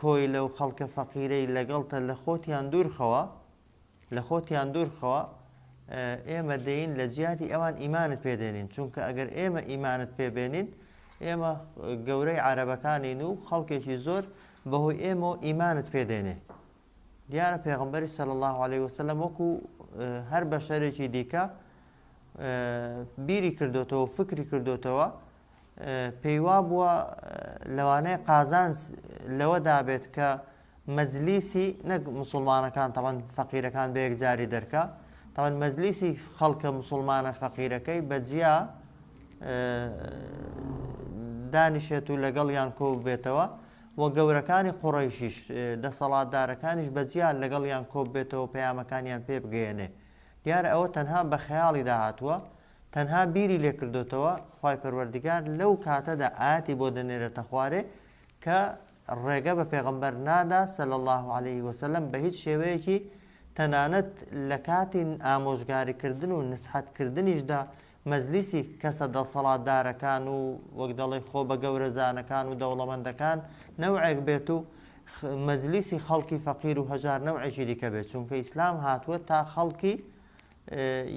کۆیلە و خەڵکە فەقیرەی لەگەڵتە لە خۆتیان دوورخەوە لە خۆتیان دوورخەوە ئێمە دێین لە جیاتی ئەوان ئیمانت پێدێنین چونکە ئەگەر ئێمە ئیمانت پێبێنین ئێمە گەورەی عربەکانین و خەڵکێکی زۆر بەهۆی ئێمە و ئیمانت پێدێنێ دیارە پێغمبەری سەل الله عليه وسلم وەکو هەر بەشەرێکی دیکە بیری کردوتەوە فکری کردوتەوە پێیوابووە لەوانەیە قازانج لەوەدا بێت کە مەجلیسی نەک مسوڵمانەکان تەوان فەقیرەکان بە یەکجاری دەرکە تەوان مەجلیسی خەڵکە مسلمانە فەقیرەکەی بەجیا دانیشێت و لەگەڵ یان کۆ بێتەوە و گەورەکانی قڕیشیش دەسەڵاتدارەکانیش بەجیان لەگەڵ یان کۆ بێتەوە پەیامەکانیان پێ بگەێنێ دیارە ئەوە تەنها بە خەیاڵی داهاتوە تەنها بیری لێ کردۆتەوە خوای پەروەردگار لەو کاتەدا ئایەتی بۆ دەنێرێتە خوارێ کە ڕێگە بە پێغەمبەر نادا سەل الله عليه وسلم بە هیچ شێوەیەکی تەنانەت لە کاتی ئامۆژگاریکردن و نسحەتکردنیشدا مەزلیسی کەسە دەڵسەڵاتدارەکان و وەک دەڵی خۆ بە گەورەزانەکان و دەوڵەمەندەکان نەوعێک بێت و مەزلیسی خەڵکی فەقیر و هەژار نەوعێکی دیکە بێت چونکە ئیسلام هاتووە تا خەڵکی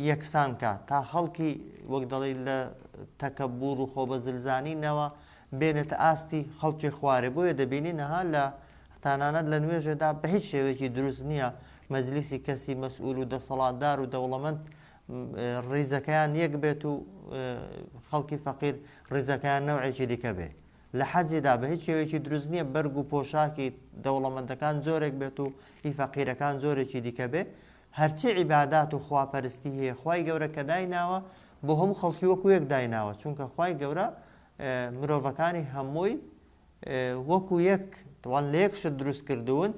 یەکسان کا تا خەڵکی وەک دەڵی لە تەکەبوور و خۆبەزلزانی نەوە بێنێتە ئاستی خەڵکی خوارێ بۆیە دەبینی نەها لە تانانەت لە نوێژێدا بە هیچ شێوەیەکی دروست نییە مەزلیسی کەسی مەسئول و دەسەڵاتدار و دەوڵەمەند ڕیزەکەیان یەک بێت و خەڵکی فەقیر ڕیزەکەیان نەوعێکی دیکە بێ لە حەجیدا بە هیچ شێوێکی دروست نییە بەرگ و پۆشاکی دەوڵەمەندەکان زۆرێک بێت و هی فەقیرەکان زۆرێکی دیکە بێ هەرچی عیبادات و خوا پەرستی هەیە خوای گەورە کە دایناوە بۆ هەموو خەڵکی وەکو یەک دایناوە چونکە خوای گەورە مرۆڤەکانی هەمووی وەکو یەک تەوان لە یەک شت دروست کردوون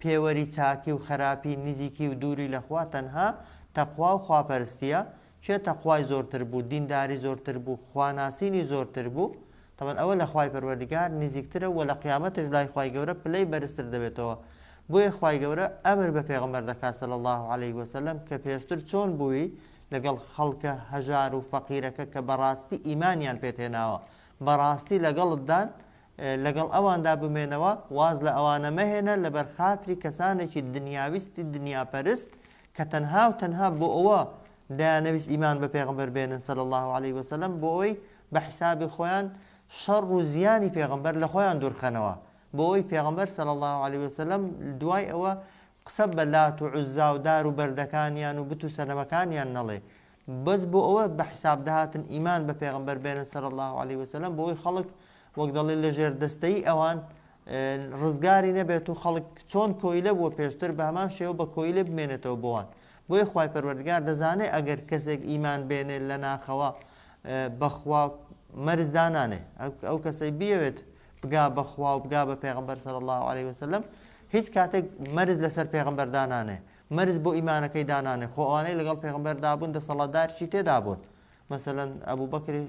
پێوەری چاکی و خراپی نزیکی و دووری لەخوا تەنها تەخوا و خواپەرستیە کێ تەقوای زۆرتر بوو دینداری زۆرتر بوو خوا ناسینی زۆرتر بوو تەبەن ئەوە لە خوای پەروەردگار نزیکترە وە لە قیامەتش لای خوای گەورە پلەی بەرزتر دەبێتەوە بۆیە خوای گەورە ئەمر بە پێغەمبەر دەکات صلی اللە علیە وسلم کە پێشتر چۆن بووی لەگەڵ خەڵکە هەژار و فەقیرەکە کە بەڕاستی ئیمانیان پێت هێناوە بەڕاستی لەگەڵتدان لەگەڵ ئەواندا بمێنەوە واز لە ئەوانە مەهێنە لەبەر خاتری کەسانێکی دنیاویستی دنیاپەرست کە تەنها و تەنها بۆ ئەوە دەیانەویست ئیمان بە پێغەمبەر بێنن صلی اللە علیە وسلم بۆ ئەوەی بە حیسابی خۆیان شەڕ و زیانی پێغەمبەر لە خۆیان دوورخەنەوە بۆ ئەوەی پێغەمبەر صلی اللە علیە وسلم دوای ئەوە قسە بە لات و عوزا و دار و بەردەکانیان و بت و سەنەمەکانیان نەڵێ بەس بۆ ئەوە بە حیساب دەهاتن ئیمان بە پێغەمبەر بێنن صلی اللە علیە وسلم بۆ ئەوەی خەڵک وەک دەڵێن لە ژێر دەستەیی ئەوان ڕزگاری نەبێت و خەڵک چۆن کۆیلە بووە پێشتر بە هەمان شێوە بە کۆیلە بمێنێتەوە بۆوان بۆیە خوای پەروەردگار دەزانێ ئەگەر کەسێک ئیمان بێنێ لە ناخەوە بەخوا مەرز دانانێ ئەو کەسەی بیەوێت بگا بەخوا و بگا بە پێغمبەر سەر الله عليه وسلم هیچ کاتێک مەرز لەسەر پێغمبەردانانێ مەرج بۆ ئیمانەکەی دانانێ خۆ ئەوانەی لەگەڵ پێغەمبەر دابوون دەسەڵاتدارشی تێدا بوون مەسەلەن ئەبوو بەکری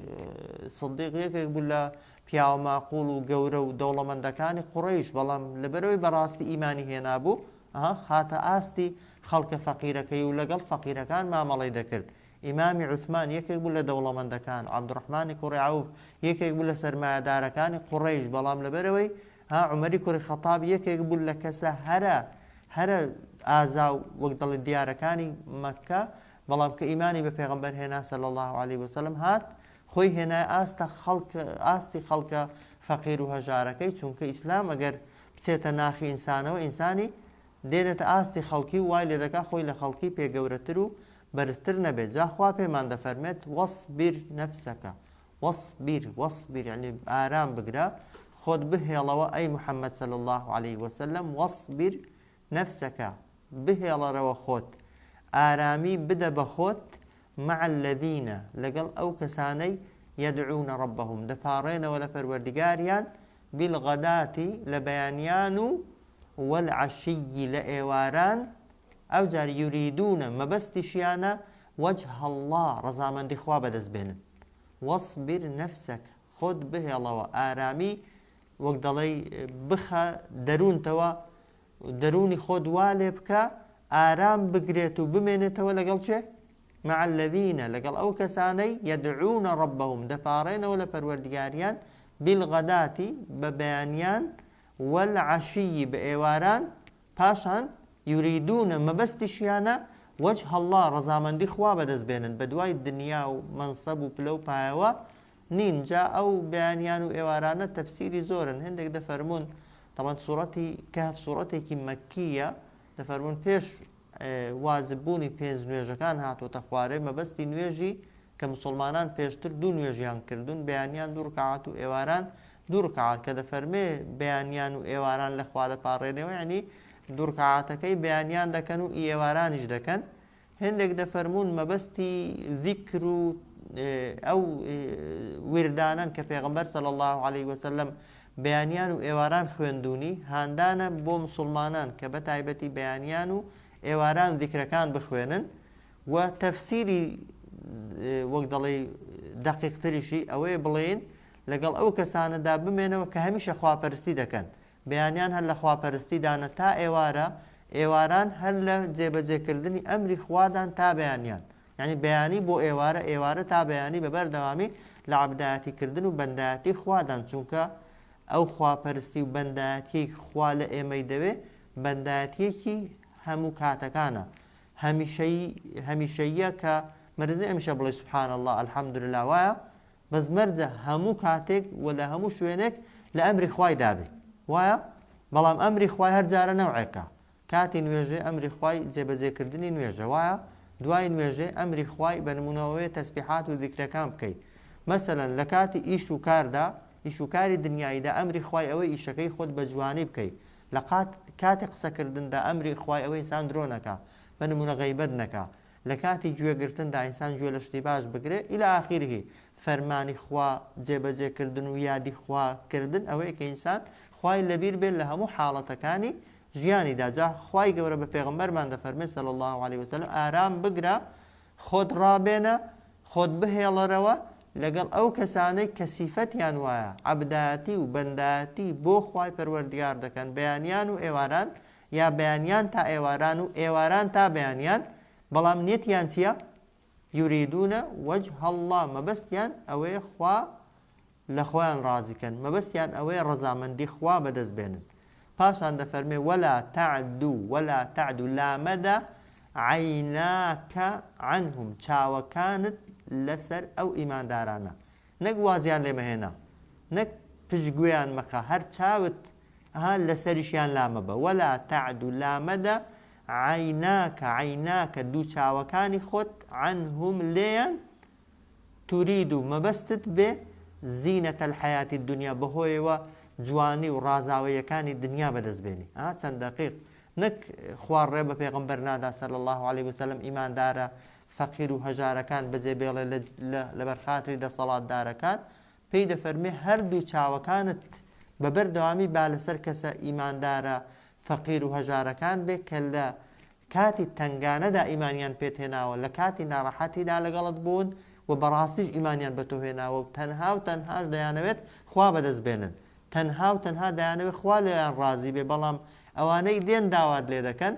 سدیق یەکێک بوو لە پیاوە ماقول و گەورە و دەوڵەمەندەکانی قڕیش بەڵام لەبەرەوەی بەڕاستی ئیمانی هێنابوو ئەها خاتە ئاستی خەڵکە فەقیرەکەی و لەگەڵ فەقیرەکان مامەڵی دەکرد ئیمامی عوثمان یەکێک بوو لە دەوڵەمەندەکان عبدڕحمانی کوڕیعوف یەکێک بوو لە سەرمایەدارەکانی قڕیش بەڵام لەبەرەوەی ها عومەری کوڕی خەتاب یەکێک بوو لە کەسە هەرە هەرە ئازا و وەک دەڵێن دیارەکانی مەککە بەڵام کە ئیمانی بە پێغەمبەر هێنا صلی اللە علیه وسلم هات خۆی هێنای ئاستە خەڵک ئاستی خەڵکە فەقیر و هەژارەکەی چونکە ئیسلام ئەگەر بچێتە ناخی ئینسانەوە ئینسانی دێنێتە ئاستی خەڵکی و وای لێ دەکا خۆی لە خەڵکی پێ گەورەتر و بەرزتر نەبێت جا خوا پێمان دەفەرمێت وەصبر نفسەکە واصبر واصبر یەعنی ئارام بگرە خۆت بهێڵەوە ئەی محەممەد صلی اللە علیه وسلم واصبر نفسک بهێڵەرەوە خۆت ئارامی بدە بە خۆت مع الذین لەگەڵ ئەو کەسانەی یدعون ربهم دەپاڕێنەوە لە پەروەردگاریان بالغداتی لە بەیانیان و والعشی لە ئێواران ئەو جار یوریدونە مەبەستیشیانە وجه الله ڕەزامەندی خوا بەدەست بێنن واصبر نفسک، خۆت بهێڵەوە، ئارامی وەک دەڵێی بخە دەروونتەوە، دەروونی خۆت وا لێ بکە ئارام بگرێت و بمێنێتەوە لەگەڵ کێ؟ مع الذین لەگەڵ ئەو کەسانەی یدعون ربهم دەپاڕێنەوە لە پەروەردگاریان بالغداتی بە بەیانیان والعشی بە ئێواران پاشان، یوریدون، مەبەستیشیانە، وجه اللە، ڕەزامەندی خوا بەدەست بێنن، بەدوای دنیا و مەنسەب و پلە و پایەوە نین، جا ئەو بەیانیان و ئێوارانە تەفسیری زۆرن، هێندێک دەفەرموون، تەبعەن سوڕەتی، کەهف، سوڕەتێکی مەکی یە، دەفەرموون پێش واجب بوونی پێنج نوێژەکان هاتۆتە خوارێ، مەبەستی نوێژی، کە مسوڵمانان پێشتر دوو نوێژیان کردوون، بەیانیان دوو ڕکاعەت و ئێواران دوو ڕکەعات کە دەفەرمێ بەیانیان و ئێواران لە خوا دەپاڕێنێەوە یەعنی دوو ڕکەعاتەکەی بەیانیان دەکەن و ئێوارانیش دەکەن هێندێک دەفەرموون مەبەستی ذیکر و ئەو وردانەن کە پێغمبەر سەل الله عليه وسلم بەیانیان و ئێواران خوێندونی هاندانە بۆ مسلمانان کە بە تایبەتی بەیانیان و ئێواران ذیکرەکان بخوێنن و تەفسیری وەک دەڵێ دقیقتریشی ئەوەیە بڵێن لەگەڵ ئەو کەسانەدا بمێنەوە کە هەمیشە خواپەرستی دەکەن، بەیانیان هەر لە خواپەرستیدانە تا ئێوارە، ئێواران هەر لە جێبەجێکردنی ئەمری خوادان تا بەیانیان، یانی بەیانی بۆ ئێوارە، ئێوارە تا بەیانی بە بەردەوامی لە عەبدایەتیکردن و بەندایەتی خوادان، چونکە ئەو خواپەرستی و بەندایەتییەی خوا لە ئێمەی دەوێ بەندایەتییەکی هەموو کاتەکانە، هەمیشەیی، هەمیشەییە کە مەرج نییە هەمیشە بڵێی سبحان اللە، الحمدللە، وایە؟ بەس مەرجە هەموو کاتێک و لە هەموو شوێنێک لە ئەمری خوای دابێ وایە بەڵام ئەمری خوای هەر جارە نەوعێکە کاتی نوێژێ ئەمری خوای جێبەجێ کردنی نوێژە وایە دوای نوێژێ ئەمری خوای بە نمونەوەێ تەسبیحات و ذیکرەکان بکەی مەسەلەن لە کاتی ئیش و کاردا ئیش و کاری دنیاییدا ئەمری خوای ئەوەی ئیشەکەی خۆت بە جوانی بکەی لە قات کاتی قسەکردندا ئەمری خوای ئەوەی ئینسان درۆ نەکا بە نمونە غەیبەت نەکا لە کاتی گوێ گرتندا ئینسان گوێ لە شتی باش بگرێ الی اخره فەرمانی خوا جێ بەجێ کردن و یادی خوا کردن ئەوەیە کە ئینسان خوای لە بیر بێ لە هەموو حاڵەتەکانی ژیانیدا جا خوای گەورە بە پێغەمبەرمان دەفەرمێ صلی اللە علیە وسلم ئارام بگرە خۆت ڕابێنە خۆت بهێڵەرەوە لەگەڵ ئەو کەسانەی کە سیفەتیان وایە عەبدایەتی و بەندایەتی بۆ خوای پەروەردگار دەکەن بەیانیان و ئێواران یا بەیانیان تا ئێواران و ئێواران تا بەیانیان بەڵام نیەتیان چیە یوریدون وجه اللە مەبەستیان ئەوەیە خوا لەخۆیان ڕازی کەن مەبەستیان ئەوەیە ڕەزامەندی خوا بەدەست بێنن پاشان دەفەرمێ ولا تعدو ولا تعدو لامەدە عیناکە عنهم چاوەکانت لەسەر ئەو ئیماندارانە نەک وازیان لێ مەهێنە نەک پشت گوێیان مەخە هەر چاوت ها لەسەریشیان لامەبە ولا تعد و لامەدە عیناک عیناک دوو چاوەکانی خۆت عنهم لێیان ترید و مەبەستت بێ زینەت الحیاتی دنیا بەهۆیەوە جوانی و ڕازاوەیەکانی دنیا بەدەست بێنی ها چەند دقیق نەک خوار ڕێ بە پێغمبەر نادا سەل الله عليه وسلم ئیماندارە فەقیر و هەژارەکان بەجێ بێڵێ لەبەر خاتری دەسەڵاتدارەکان، پێی دەفەرموێ هەردوو چاوەکانت بە بەر دەوامی با لەسەر کەسە ئیماندارە فەقیر و هەژارەکان بێ کە لە کاتی تەنگانەدا ئیمانیان پێت هێناوە لە کاتی ناڕەحەتیدا لەگەڵت بوون و بەڕاستیش ئیمانیان بە تۆ هێناوە و تەنها و تەنهاش دەیانەوێت خوا بەدەست بێنن تەنها و تەنها دەیانەوێت خوا لێیان ڕازی بێت بەڵام ئەوانەی دێن داوات لێ دەکەن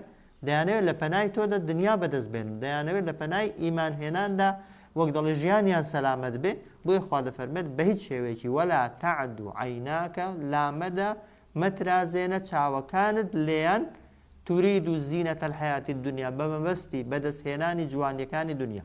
دەیانەوێت لە پەنای تۆدا دنیا بەدەست بێنن دەیانەوێت لە پەنای ئیمان هێناندا وەک دەڵێ ژیانیان سەلامەت بێ بۆیە خوا دەفەرمێت بە هیچ شێوەیەکی ولا تعد عیناک لامەدە مەترازێنە چاوەکانت لێیان ترید زینەت الحیاتی الدنیا بە مەبەستی بەدەست هێنانی جوانیەکانی دنیا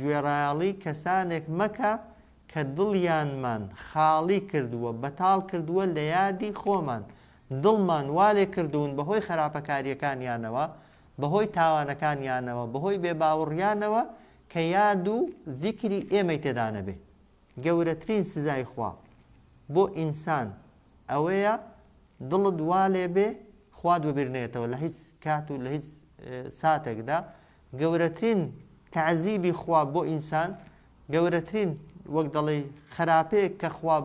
گوێڕایەڵی کەسانێک مەکە کە دڵیانمان خاڵی کردووە، بەتاڵ کردووە لە یادی خۆمان، دڵمان وا لێ کردوون بەهۆی خەراپەکارییەکانیانەوە، بەهۆی تاوانەکانیانەوە، بەهۆی بێ باوڕیانەوە کە یاد و زیکری ئێمەی تێدا نەبێ. گەورەترین سزای خوا بۆ ئینسان ئەوەیە دڵت وا لێ بێ خوات بە بیر نەیەتەوە لە هیچ کات و لە هیچ ساتێکدا، گەورەترین تەعزیبی خوا بۆ ئینسان گەورەترین وەک دەڵێی خەراپەیەک کە خوا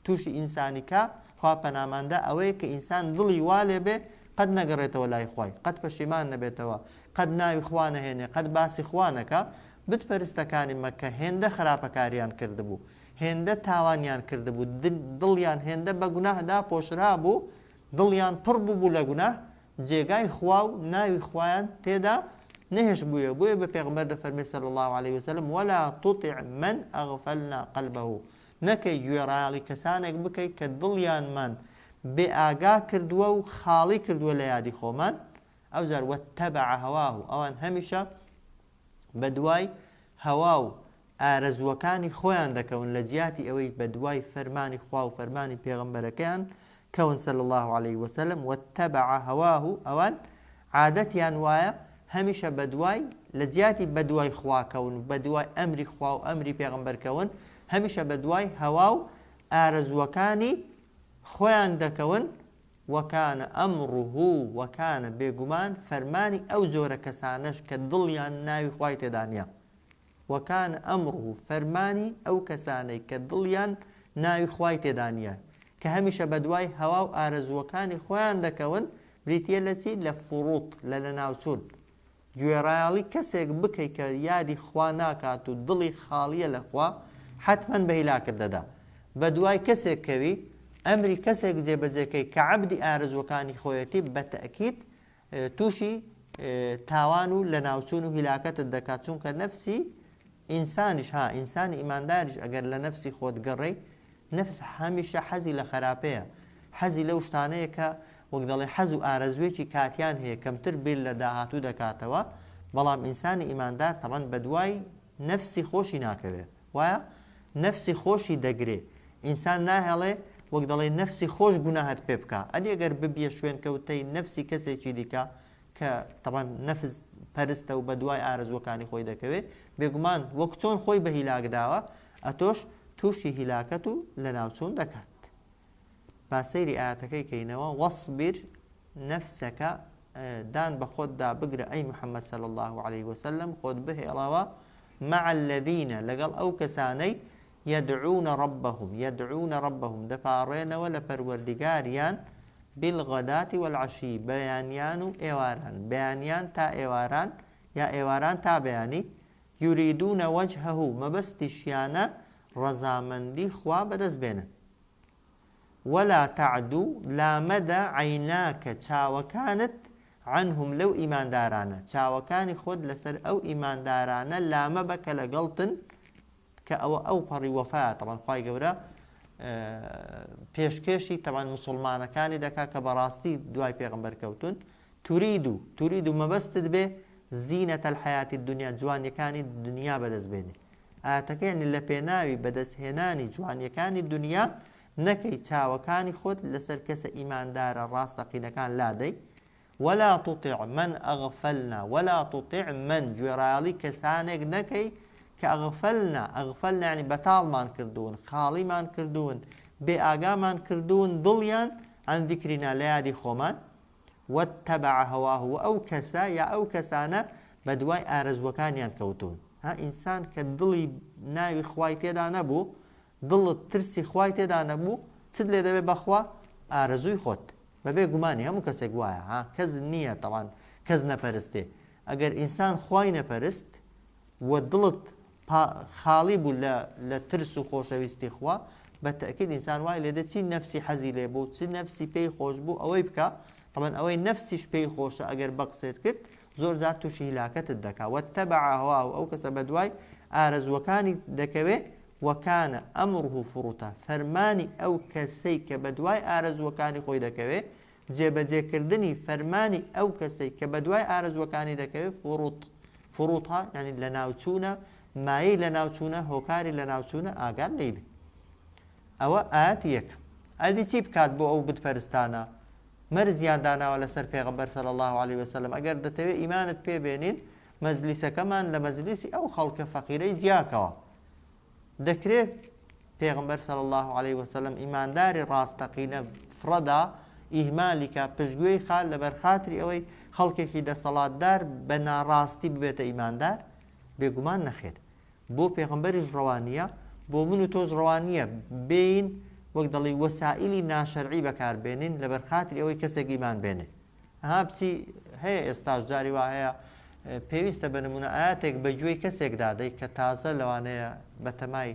تووشی ئینسانی کا خوا پەناماندا ئەوەیە کە ئینسان دڵی وا لێ بێ قەت نەگەڕێتەوە لای خوای قەت پەشیمان نەبێتەوە قەت ناوی خوا نەهێنێ قەت باسی خوا نەکا بت پەرستەکانی مەککە هێندە خراپەکاریان کردبوو هێندە تاوانیان کردبوو دڵیان هێندە بە گوناه داپۆشرا بوو دڵیان پڕ بوو بوو لە گوناه جێگای خوا و ناوی خوایان تێدا نەهێشتبوویە بۆیە بە پێغەمبەر دەفەرمێ صلی اللە علیە وسلم، ولا تطع من اغفلنا قلبه، نەکەی گوێڕایەڵی کەسانێک بکەی کە دڵیانمان بێ ئاگا کردووە و خاڵی کردووە لە یادی خۆمان، ئەوجار واتبع هواه ئەوان هەمیشە بەدوای هەوا و ئارەزووەکانی خۆیان دەکەون لە جیاتی ئەوەی بەدوای فەرمانی خوا و فەرمانی پێغەمبەرەکەیان کەون صلی الله علیه وسلم واتبع هواه ئەوان عادەتیان وایە هەمیشە بەدوای لە جیاتی بەدوای خواکەون و بەدوای ئەمری خوا و ئەمری پێغمبەرکەون هەمیشە بەدوای هەوا و ئارەزووەکانی خۆیان دەکەون وکان امره وکان بێگومان فەرمانی ئەو جۆرە کەسانەش کە دڵیان ناوی خوای تێدا نیە وکان امره فەرمانی ئەو کەسانەی کە دڵیان ناوی خوای تێدا نیە کە هەمیشە بەدوای هەوا و ئارەزووەکانی خۆیان دەکەون بریتیە لە چی لە فروط لە لەناوچوون گوێڕایەڵی کەسێک بکەی کە یادی خوا ناکات و دڵی خاڵیە لە خوا حەتمەن بە هیلاکت دەدا بە دوای کەسێک کەوی ئەمری کەسێک جێبەجێ کەی کە عەبدی ئارەزوەکانی خۆیەتی بە تەئکید توشی تاوان و لە ناوچون و هیلاکەتت دەکات چونکە نەفسی ئینسانیش ها ئینسانی ئیمانداریش ئەگەر لە نەفسی خۆت گەڕێی نەفس هەمیشە حەزی لە خەراپەیە، حەزی لەو شتانەیە کە وەک دەڵێ حەز و ئارەزووێکی کاتیان هەیە، کەمتر بیر لە داهاتوو دەکاتەوە، بەڵام ئینسانی ئیماندار تەبعەن بەدوای نەفسی خۆشی ناکەوێ، وایە؟ نەفسی خۆشی دەگرێ، ئینسان ناهێڵێ وەک دەڵێ نەفسی خۆش گوناهت پێ بکا، ئەدی گەر ببیە شوێنکەوتەی نەفسی کەسێکی دیکە، کە تەبعەن نەفس پەرستە و بەدوای ئارەزووەکانی خۆی دەکەوێ، بێگومان وەک چۆن خۆی بە هیلاک داوە، ئەتۆش تووشی هیلاکەت و لەناوچوون دەکات. با سەیری ئایەتەکەی کەینەوە، وەسبیر نەفسەکە، دان بە خۆتدا بگرە ئەی محەممەد صلی اللە علیه وسلم، خۆت بهێڵەوە، مع الذین، لەگەڵ ئەو کەسانەی، یدعون ربهم یدعون ربهم دەپاڕێنەوە لە پەروەردگاریان بالغداة والعشی بەیانیان و ئێواران بەیانیان تا ئێواران یا ئێواران تا بەیانی یریدون وجهه مەبەستیشیانە ڕەزامەندی خوا بەدەست بێنن ولا تعد لامەدە عیناکە چاوەکانت عنهم لەو ئیماندارانە چاوەکانی خۆت لەسەر ئەو ئیماندارانە لامەبە کە لەگەڵتن کە ئەوە ئەو پەڕی وەفایە تەبان خوای گەورە پێشکێشی تەبان مسلمانەکانی دەکا کە بەڕاستی دوای پێغمبەر کەوتون تورید و تورید و مەبەستت بێ زینە تەلحیاتی دنیا جوانیەکانی دنیا بەدەست بێنێ ئاتەکەیان لە پێناوی بەدەستهێنانی جوانیەکانی دنیا نەکەی چاوەکانی خۆت لەسەر کەسە ئیماندارە ڕاستەقینەکان لادەی ولا تطع من اغفلنا ولا تطع من گوێڕایەڵی کەسانێک نەکەی کە اغفلنا اغفلنا یانی بەتاڵمان کردوون خاڵیمان کردوون بێ ئاگامان کردوون دڵیان عن ذکرنا لە یادی خۆمان واتبع هواه وە ئەو کەسە یا ئەو کەسانە بەدوای ئارەزووەکانیان کەوتوون ها ئینسان کە دڵی ناوی خوای تێدا نەبوو دڵت ترسی خوای تێدا نەبوو چت لێ دەبێ بەخوا ئارەزووی خۆت بەبێ گومانی هەموو کەسێک وایە ها کەس نییە تەوان کەس نەپەرستێ ئەگەر ئینسان خوای نەپەرست و دڵت پا خاڵی بوو لە لە ترس و خۆشەویستی خوا بە تەئکید ئینسان وای لێ دێ چی نەفسی حەزی لێ بوو چ نەفسی پێی خۆش بوو ئەوەی بکا تەبەن ئەوەی نەفسیش پێی خۆشە ئەگەر بەقسێت کرد زۆر جار توشی هیلاکەتت دەکا واتبع هواه ئەو کەسە بەدوای ئارەزوەکانی دەکەوێ وکان امره فرطە فەرمانی ئەو کەسەی کە بەدوای ئارەزوەکانی خۆی دەکەوێ جێبەجێ کردنی فەرمانی ئەو کەسەی کە بەدوای ئارەزوەکانی دەکەوێ فروط فروطە ینی لەناوچوونە مایەی لەناوچوونە هۆکاری لەناوچوونە ئاگات لێی بێ ئەوە ئاەت یەکەم ئەدی چی بکات بۆ ئەو بتپەرستانە مەرزیان داناوە لەسەر پێغەمبەر صلی اللە علیە وسلم ئەگەر دەتەوێت ئیمانت پێ بێنین مەجلیسەکەمان لە مەجلیسی ئەو خەڵکە فەقیرەی جیاکەوە دەکرێت پێغمبەر صلی اللە علیه وسلم ئیمانداری ڕاستەقینە فڕەدا ئیهمالیکا پشتگوێی خال لەبەر خاتری ئەوەی خەڵکێکی دەسەڵاتدار بە ناڕاستی ببێتە ئیماندار بێگومان نەخێر بۆ پێغەمبەریش ڕەوا نییە، بۆ من و تۆش ڕەوا نییە بێین وەک دەڵێی وەسائیلی ناشەرعی بەکار بێنین لەبەر خاتری ئەوەی کەسێک ئیمان بێنێ. ها بچی هەیە ئێستاش جاری وا هەیە پێویستە بە نموونە ئایاتێک بە گوێی کەسێک دادەی کە تازە لەوانەیە بە تەمای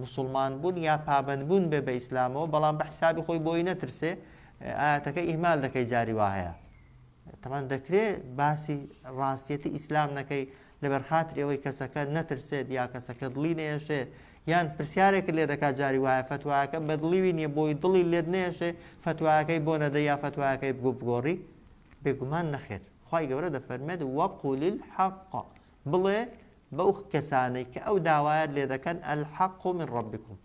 مسوڵمان بوون یا پابەند بوون بێ بە ئیسلامەوە بەڵام بە حیسابی خۆی بۆی نەترسێ ئایاتەکە ئیهمال دەکەی جاری وا هەیە. تەبعەن دەکرێ باسی ڕاستیەتی ئیسلام نەکەی لەبەر خاتری ئەوەی کەسەکە نەترسێت یا کەسەکە دڵی نەیەشێ یان پرسیارێک لێ دەکات جاری وایە فتوایەکە بەدڵیوی نییە بۆی دڵی لێت نێشێ فتوایەکەی بۆ نەدە یا فتوایەکەی بۆ بگۆڕی بێگومان نەخێر خی گەورە دەفەرمێت وەقول الحق بڵێ بەو کەسانەی کە ئەو داوایەت لێ دەکەن الحق من ربکم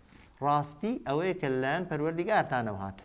ڕاستی ئەوەیە کە لایەن پەروەردیگارتانەوە هاتو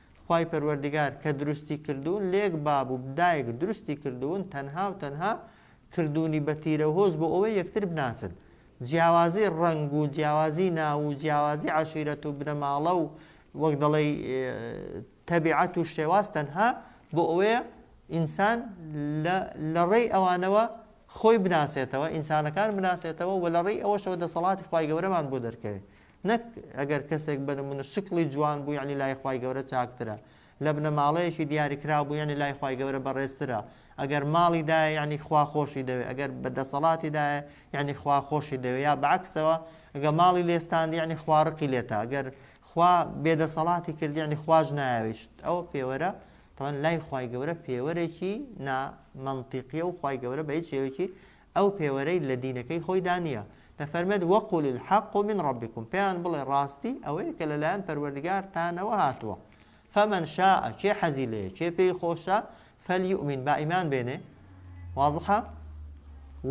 خوای پەروەردگار کە دروستی کردوون لێک باب و دایک دروستی کردوون تەنها و تەنها کردوونی بە تیرەوهۆز بۆ ئەوەی یەکتر بناسن جیاوازی ڕەنگ و جیاوازی ناو و جیاوازی عەشیرەت و بنەماڵە و وەک دەڵێی تەبیعەت و شێواز تەنها بۆ ئەوەیە ئینسان لە ڕێی ئەوانەوە خۆی بناسێتەوە ئینسانەکان بناسێتەوە و لە ڕێی ئەوەشەوە دەسەڵاتی خی گەورەمان بۆ دەرکەوێت نەک ئەگەر کەسێک بە نمونە شکڵی جوان بوو یەعنی لای خوای گەورە چاکترە، لە بنەماڵەیەکی دیاریکراو بوو یەعنی لای خوای گەورە بەڕێزترە، ئەگەر ماڵی دایە یەعنی خوا خۆشی دەوێ، ئەگەر بە دەسەڵاتی دایە یەعنی خوا خۆشی دەوێ، یا بە عەکسەوە ئەگەر ماڵی لێ ستاند یەعنی خوا ڕقی لێتە، ئەگەر خوا بێ دەسەڵاتی کرد یەعنی خواش نایەوێت، ئەوە پێوەرە تەبعەن لای خوای گەورە پێوەرێکی نا مەنتیقیە و خوای گەورە بە هیچ شێوەیەکی ئەو پێوەرەی لە دینەکەی خۆیدا نییە، دەفەرمێت، وقل الحق من ربکم، پێیان بڵێ ڕاستی ئەوەیە کە لەلایەن پەروەردگارتانەوە هاتووە، فمن شاء، کێ حەزی لێیە، کێ پێی خۆشە، فلیومن، با ئیمان بێنێ، واضحە؟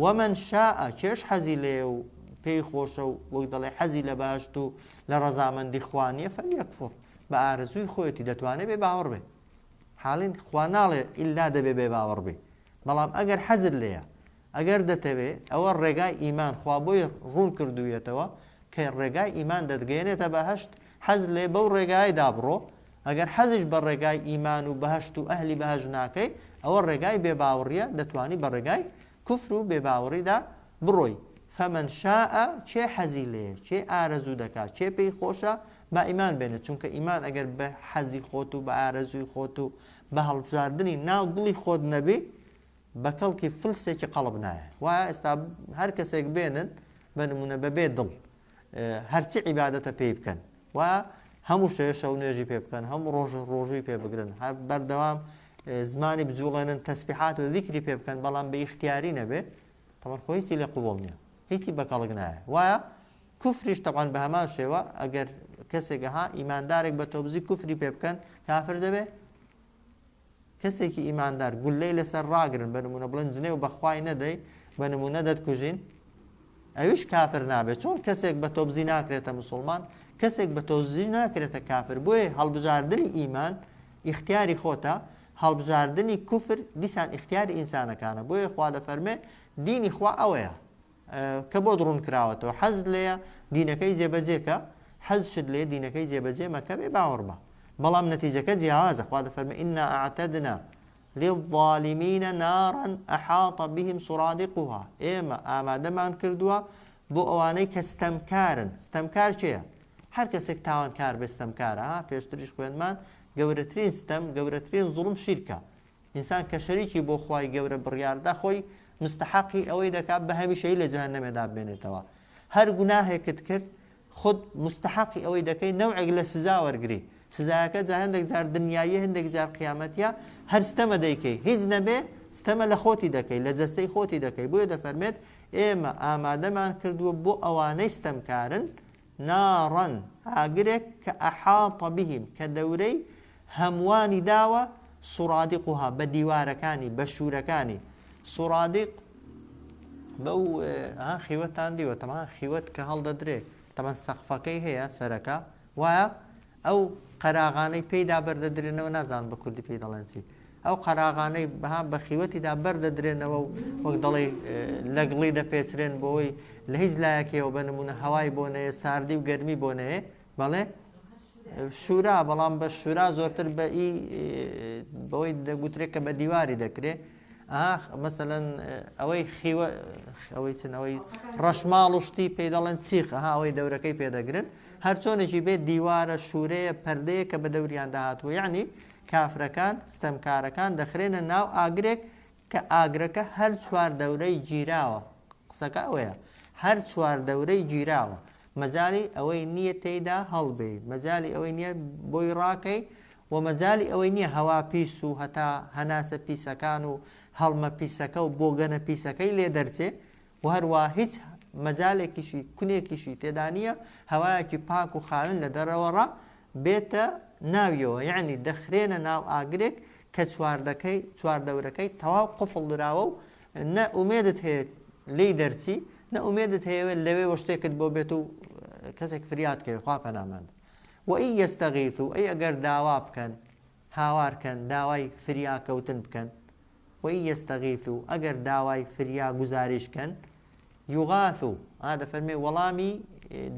ومن شاء، کێش حەزی لێیە و پێی خۆشە و وەک دەڵێ حەزی لە بەهەشت و لە ڕەزامەندی خوا نییە، فلیەکفر، بە ئارەزووی خۆیەتی دەتوانێ بێ باوەڕ بێ. حاڵین خوا ناڵێ ئیلا دەبێ بێ باوەڕ بی. بەڵام ئەگەر حەزت لێیە، ئەگەر دەتەوێ، ئەوە ڕێگای ئیمان خوا بۆی ڕوون کردوویەتەوە کە ڕێگای ئیمان دەتگەیەنێتە بەهەشت، حەزت لێ بەو ڕێگایەدا بڕۆ، ئەگەر حەزیش بە ڕێگای ئیمان و بەهەشت و ئەهلی بەهەشت ناکەی، ئەوە ڕێگای بێ باوڕیە، دەتوانی بە ڕێگای کوفر و بێ باوڕیدا بڕۆی، فمن شاء، کێ حەزی لێیە، کێ ئارەزوو دەکا، کێ پێی خۆشە با ئیمان بێنێ، چونکە ئیمان ئەگەر بە حەزی خۆت و بە ئارەزووی خۆت و بە هەڵبژاردنی ناو دڵی خۆت نەبی بە کەڵکی فلسێکی قەڵب نایە وایە ئێستا هەر کەسێک بێنن بە نمونە بەبێ دڵ هەرچی عیباەتە پێی بکەن و هەموو شێشە و نوێژی پێ بکەن هەموو ڕۆژ ڕۆژووی پێ بگرن هەر بەردەوام زمانی بجوڵێنن تەسبیحات و ذیکری پێ بکەن بەڵام بە ئیختیاری نەبێ تەمەر خۆیسی لێ قوبڵ نییە هیچی بەکەڵک نایە وایە کوفریش تەبعەن بەهەمان شێوە ئەگەر کەسێک ها ئیماندارێک بە تۆبزی کوفری پێ بکەن کافر دەبێ کەسێکی ئیماندار گولەی لەسەر ڕاگرن بە نمونە بڵێن جنێ و بەخوای نەدەی بە نمونە دەتکوژین ئەویش کافر نابێت چۆن کەسێک بە تۆبزی ناکرێتە مسلمان کەسێک بە تۆزی ناکرێتە کافر بۆیە هەڵبژاردنی ئیمان ئیختیاری خۆتە هەڵبژاردنی کوفر دیسان ئختیاری ئینسانەکانە بۆیە خوا دەفەرمێ دینی خوا ئەوەیە کە بۆت ڕوون کراوەتەوە حەزت لێیە دینەکەی جێبەجێ کە حەزشت لێ دینەکەی جێبەجێ مەکە بێ باوەڕبە بەڵام نەتیجەکە جیاوازە خوا دەفەرمە ئینا ئەعتەدنا للظالمین نارا احاط بهم سرادقها ئێمە ئامادەمان کردووە بۆ ئەوانەی کە ستەمکارن ستەمکار کێیە هەر کەسێک تاوانکار بێ ستەمکارە پێشتریش خوێنمان گەورەترین ستەم گەورەترین زوڵم شیرکە ئینسان کە شەریکی بۆ خوای گەورە بڕیاردا خۆی مستەحەقی ئەوەی دەکات بە هەمیشەیی لە جەهەنەمێدا بمێنێتەوە هەر گوناهێکت کرد خود مستەحەقی ئەوەی دەکەی نەوعێک لە سزا وەرگری سزایەکە جا هەندێک جار دنیاییە هەندێک جار قیامەتیە هەر ستەمە دەیکەی هیچ نەبێ ستەمە لە خۆتی دەکەی لە جەستەی خۆتی دەکەی بۆیە دەفەرمێت ئێمە ئامادەمان کردووە بۆ ئەوانەی ستەمکارن نارا، ئاگرێک، کە احاط بهم، کە دەورەی هەمووانی داوە، سرادقها، بە دیوارەکانی، بە شوورەکانی، سرادق، بەو، ها، خیوەتتان دیوە، تەبعەن خیوەت کە هەڵدەدرێ، تەبعەن سەقفەکەی هەیە، سەرەکە، وایە؟ ئەو قەراغانەی پێیدا بەر دەدرێنەوە نازانم بە کوردی پێی دەڵێن چی ئەو قەراغانەی بەها بە خیوەتیدا بەر دەدرێنەوە و وەک دەڵی لەگڵی دەپێچرێن بۆی لە هیچ لایەکەوە بە نمونە هەوای بۆ نەیە ساردی و گەرمی بۆ نەیە بەڵێ شورا بەڵام بە شورا زۆرتر بە ئی بەوەی دەگوترێت کە بە دیواری دەکرێت ئاخ مەسەلەن ئەوەی خیوە ئەوەی چن ئەوەی ڕەشماڵ و شتی پێی دەڵێن چیخ ها ئەوەی دەورەکەی پێدەگرن هەر چۆنێکی بێت دیوارە شوورەیە پردەیە کە بە دەوریان داهاتوە یعنی کافرەکان ستەمکارەکان دەخرێنە ناو ئاگرێک کە ئاگرەکە هەر چوار دەورەی گیراوە قسەکە ئەوەیە هەر چوار دەورەی گیراوە مەجای ئەوەی نییە تێیدا هەڵبێ مەجای ئەوەی نییە بۆی ڕاکەی و مەجالی ئەوەی نیە هەوا پیس و هەتا هەناسە پیسەکان و هەڵمە پیسەکە و بۆگەنە پیسەکەی لێ دەرچێ و هەروا هیچ مەجالێکیشی کونێکیشی تێدا نیە هەوایەکی پاک و خاوێن لە دەرەوەڕا بێتە ناویەوە یەعنی دەخرێنە ناو ئاگرێک کە چواردەکەی چواردەورەکەی تەواو قفڵ دراوە و نە ئومێدت هەیە لێی دەرچی نە ئومێدت هەیەوێت لەوێ وە شتێکت بۆ بێت و کەسێک فریات کەوێت خوا پەناماندە وَإِن یەستەغیثوو ئەی ئەگەر داوا بکەن، هاوار کەن، داوای فریاکەوتن بکەن، وَإِن یەستەغیثوو ئەگەر داوای فریا گوزاریش کەن، یوغاثوو، ئا دەفەرمێ وەڵامی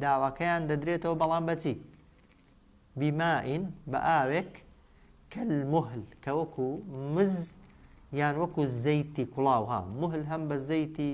داواکەیان دەدرێتەوە بەڵام بە چی؟ بیمائین بە ئاوێک کەلموهل کە وەکو مز یان وەکو زەیتی کوڵاو ها مهل هەم بە زەیتی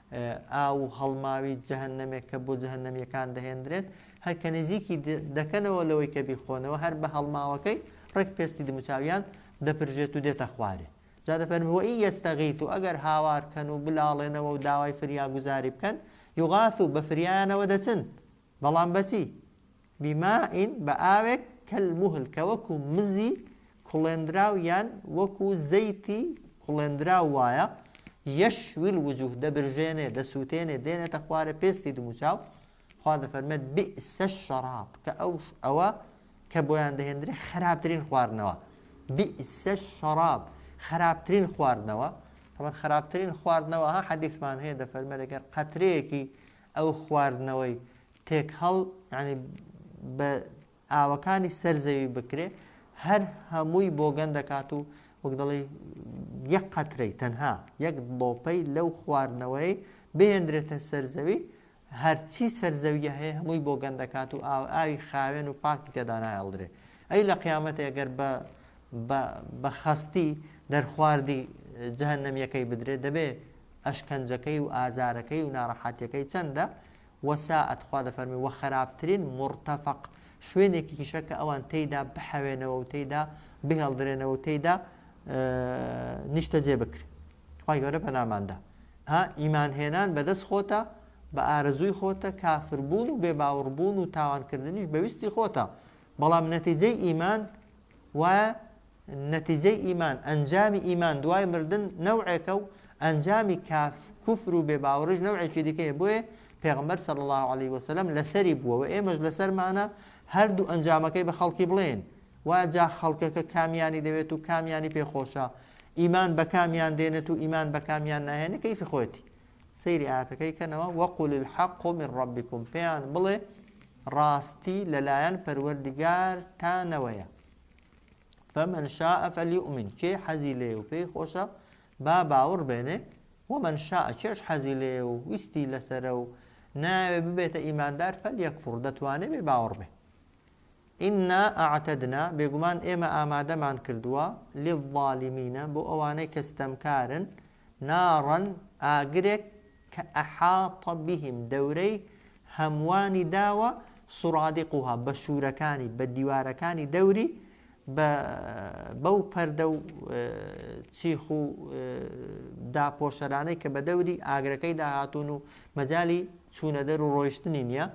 ئاو و هەڵماوی جەهەنەمێک کە بۆ جەهەنەمییەکان دەهێندرێت، هەر کە نزیکی دەکەنەوە لەوەی کە بیخۆنەوە، هەر بە هەڵماوەکەی ڕێک پێستی دموچاویان دەپرژێت و دێتە خوارێ. جا دەفەرموێ وە ئین یەستەغیثو ئەگەر هاوار بکەن و بلاڵێنەوە و داوای فریاگوزاری بکەن، یوغاثو بە فریایانەوە دەچن، بەڵام بە چی؟ بماء بە ئاوێک کەلموهل کە وەکو مزی کوڵێندراو یان وەکو زەیتی کوڵێندراو وایە، یشوی الوجوه دەبرژێنێ، دەسووتێنێ، دێنێتە خوارێ پێستی دموچاو، خوا دەفەرمێت بئس الشراب کە ئەو ئەوە کە بۆیان دەهێندرێ خەراپترین خواردنەوە، بئس الشراب خەراپترین خواردنەوە، تەبەن خەراپترین خواردنەوە ها حەدیثمان هەیە دەفەرمێت ئەگەر قەترەیەکی ئەو خواردنەوەی تێکهەڵ یانی بە ئاوەکانی سەر زەوی بکرێ هەر هەمووی بۆگەن دەکات و وەک دەڵی یەک قەترەی تەنها یەک بۆپەی لەو خواردنەوەی بهێندرێتە سەرزەوی هەرچی سەرزەویە هەیە هەمووی بۆ گەندەکات و ئاو ئاوی خاوێن و پاکی تێدانایڵدرێ ئەی لە قیامەت ئەگەر بە بە خەستی دەرخواردی جەهنەمیەکەی بدرێت دەبێ ئەشکەنجەکەی و ئازارەکەی و ناڕەحاتەکەی چەندە وساعت خوا دەفەرموێ وخەراپترین مورتەفەق شوێنێکیکیشە کە ئەوان تێیدا بحەوێنەوە و تێیدا بهێڵدرێنەوە و تێیدا نیشتەجێ بکرێن خوای گەورە پەنامان دا ها ئیمان هێنان بەدەست خۆتە بە ئارەزووی خۆتە کافربوون و بێ باوڕبوون و تاوانکردنیش بەویستی خۆتە بەڵام نەتیجەی ئیمان وایە نەتیجەی ئیمان، ئەنجامی ئیمان دوای مردن نەوعێکە و ئەنجامی کاف، کوفر و بێ باوەڕیش نەوعێکی دیکەیە، بۆیە پێغەمبەر صلی اللە علیە وسلم لەسەری بووە و ئێمەش لەسەرمانە هەردوو ئەنجامەکەی بە خەڵکی بڵێین، وا جا خەڵکەکە کامیانی دەوێت و کامیانی پێ خۆشە، ئیمان بەکامیان دێنێت و ئیمان بەکامیان ناهێنێت کەیفی خۆیەتی. سەیری ئایەتەکەی کەنەوە، وقل الحق من ربکم، پێیان بڵێ ڕاستی لەلایەن پەروەردگارتانەوەیە. فمن شاء فلیؤمن کێ حەزی لێ و پێی خۆشە با باوەڕ بێنێ ومن شاء کێش حەزی لێ و ویستی لەسرە و ناوێ ببێتە ئیماندار فەلیەکفڕ دەتوانێ بێ باوەڕ بێ ئنا ئاعتدنا بێگومان ئێمە ئامادەمان کردووە للظالمینە بۆ ئەوانەی کە ستەمکارن کە نارا ئاگرێک کە احاط بهم دەورەی هەمووانی داوە سرادقها بە شوورەکانی بە دیوارەکانی دەوری بە بەو پەردە و چیخ و داپۆشەرانەی کە بە دەوری ئاگرەکەی داهاتون و مەجای چوونەدەر و ڕۆیشتنی نییە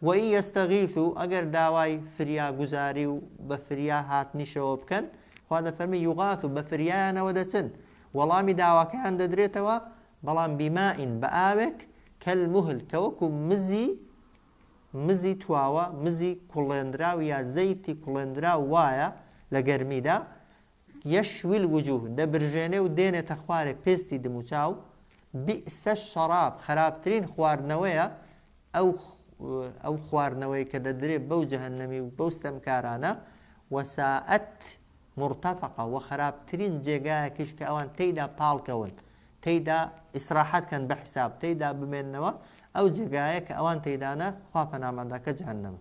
وَإِن یەستەغیثوو، ئەگەر داوای فریاگوزاری و بە فریا هاتنیشەوە بکەن، خوا دەفەرمێ، یوغاثوو، بە فریایانەوە دەچن، وەڵامی داواکەیان دەدرێتەوە، بەڵام بیمائین، بە ئاوێک، کەلموهل، کە وەکو مزی، مزی تواوە، مزی کوڵێنراو یا زەیتی کوڵێنراو وایە لە گەرمیدا، یشوی الوجوه، دەبرژێنێ و دێنێتە خوارێ پێستی دموچاو، بئس الشراب، خەراپترین خواردنەوەیە ئەو ئەو خواردنەوەی کە دەدرێ بەو جەهەنەمی و بەو ستەمکارانە، وساءت مرتفقا، وە خەراپترین جێگایەکیش کە ئەوان تێیدا پاڵکەون، تێیدا ئیسراحەت کەن بە حیساب، تێیدا بمێننەوە، ئەو جێگایە کە ئەوان تێیدانە خوا پەناماندا کە جەهەنەمە.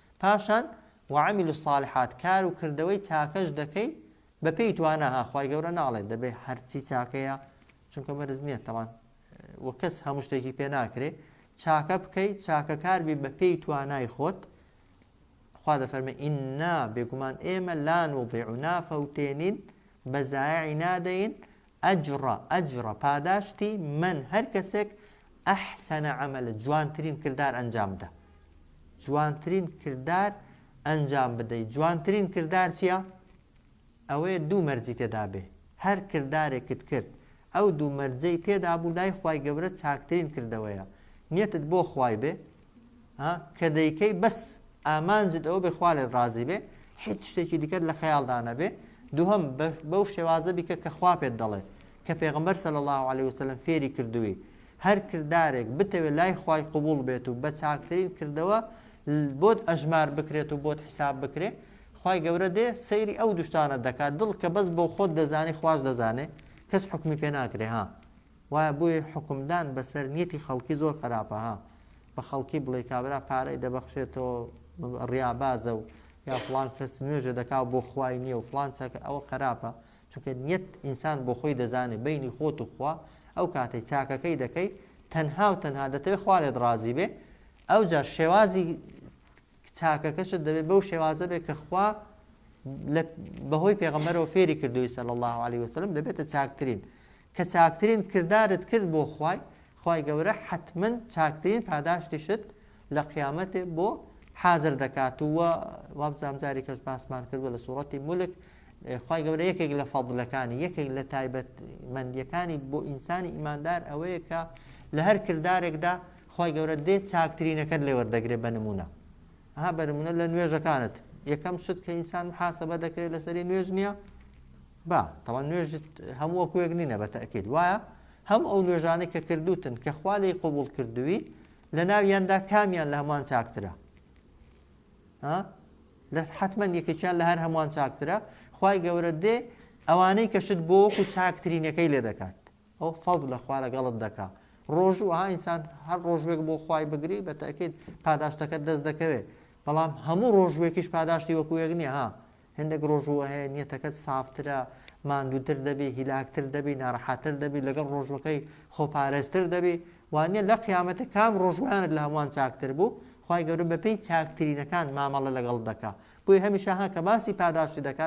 پاشان، وعملوا الصالحات، کار و کردەوەی چاکەش دەکەی بە پێی توانا ها، خوای گەورە ناڵێت دەبێ هەرچی چاکەیە چونکە بەرز نییە تەوان و کەس هەموو شتێکی پێ ناکرێ چاکە بکەی چاکەکار بی بە پێی توانای خۆت خوا دەفەرمە ئیننا بێگومان ئێمە لا نوضیع و نافەوتێنین بە زایعی نادەین اجر اجر پاداشتی من هەر کەسێک احسن عملا جوانترین کردار ئەنجام دا جوانترین کردار ئەنجام بدەی جوانترین کردار چیە ئەوەیە دوو مەرجی تێدا بێ هەر کردارێکت کرد ئەو دوو مەرجەی تێدا بوو لای خوای گەورە چاکترین کردەوەیە نیەتت بۆ خوای بێ ها کە دەیکەی بەس ئامانجت ئەوەبێ خوا لێت ڕازی بێ هیچ شتێکی دیکەت لە خەیاڵدا نەبێ دووهەم بەو شێوازە بیکە کە خوا پێت دەڵێ کە پێغمبەر سەل الله عليه وسلم فێری کردووی هەر کردارێک بتەوێت لای خوای قوبول بێت و بە چاکترین کردەوە بۆت ئەژمار بکرێت و بۆت حیساب بکرێت خی گەورە دێ سەیری ئەو دوشتانە دەکات دڵ کە بەس بۆ خۆت دەزانی خوش دەزانێ کەس حکمی پێ ناکرێ ها وایە بۆیە حوکمدان بەسەر نیەتی خەڵکی زۆر خەراپە ها بە خەڵکی بڵێی کابرا پارەی دەبەخشێتەوە ڕیابازە و یا فڵان کەس نوێژە دەکا بۆ خوای نییە و فڵان چاکە ئەوە خەراپە چونکە نیەت ئینسان بۆ خۆی دەزانێ بینی خۆت و خوا ئەو کاتەی چاکەکەی دەکەی تەنها و تەنها دەتەوێت خوا لێت ڕازی بێ ئەو جا شێوازی چاکەکەشت دەبێت بەو شێوازە بێ کە خوا بەهۆی پێغەمەرەوە فێری کردووی سەل الله عليه وسلم دەبێتە چاکترین کە چاکترین کردارت کرد بۆ خوای خوای گەورە حەتمەن چاکترین پاداشتیشت لە قیامەتێ بۆ حازر دەکات و وابزام جاری کەش باسمان کردوە لە سوڕەتی مولک خی گەورە یەکێک لە فەضلەکانی یەکێک لە تایبەت مندیەکانی بۆ ئینسانی ئیماندار ئەوەیە کە لە هەر کردارێکدا خی گەورە دێت چاکترینەکەت لێ وەردەگرێت بە نمونە ها بە نمونە لە نوێژەکانت یەکەم شت کە ئینسان حاسەبە دەکرێت لەسەری نوێژ نییە با، تەوان نوێژت هەموو وەکو یەک نینە بە تەئکید وایە هەموو ئەو نوێژانەی کە کردووتن کە خوا لێی قبوڵ کردووی لە ناویاندا کامیان لە هەمووان چاکترە ها لە حتمما یەکێکیان لە هەر هەمووان چاکترە خوای گەورە دێ ئەوانەی کەشت بۆ وەکو چاکترینەکەی لێ دەکات ئەو فەز لە خوا لەگەڵت دەکا ڕۆژوو ها ئینسان هەر ڕۆژوێک بۆ خوای بگری بە تاکیت پاداشتەکە دەست دەکەوێت بەڵام هەموو ڕۆژوێکیش پاداشتی وەکو یەک نیە ها هەندێک ڕۆژووە هەیە نیەتەکەت سافترە، ماندووتر دەبی، هیلاکتر دەبی، ناڕەحەتتر دەبی، لەگەڵ ڕۆژووەکەی خۆپارێزتر دەبی، وانیە لە قیامەتە کام ڕۆژووانت لە هەمووان چاکتر بوو، خوای گەورە بەپێی چاکترینەکان مامەڵە لەگەڵت دەکا، بۆیە هەمیشە ها کە باسی پاداشتی دەکا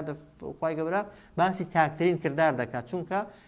خوای گەورە باسی چاکترین کردار دەکا، چونکە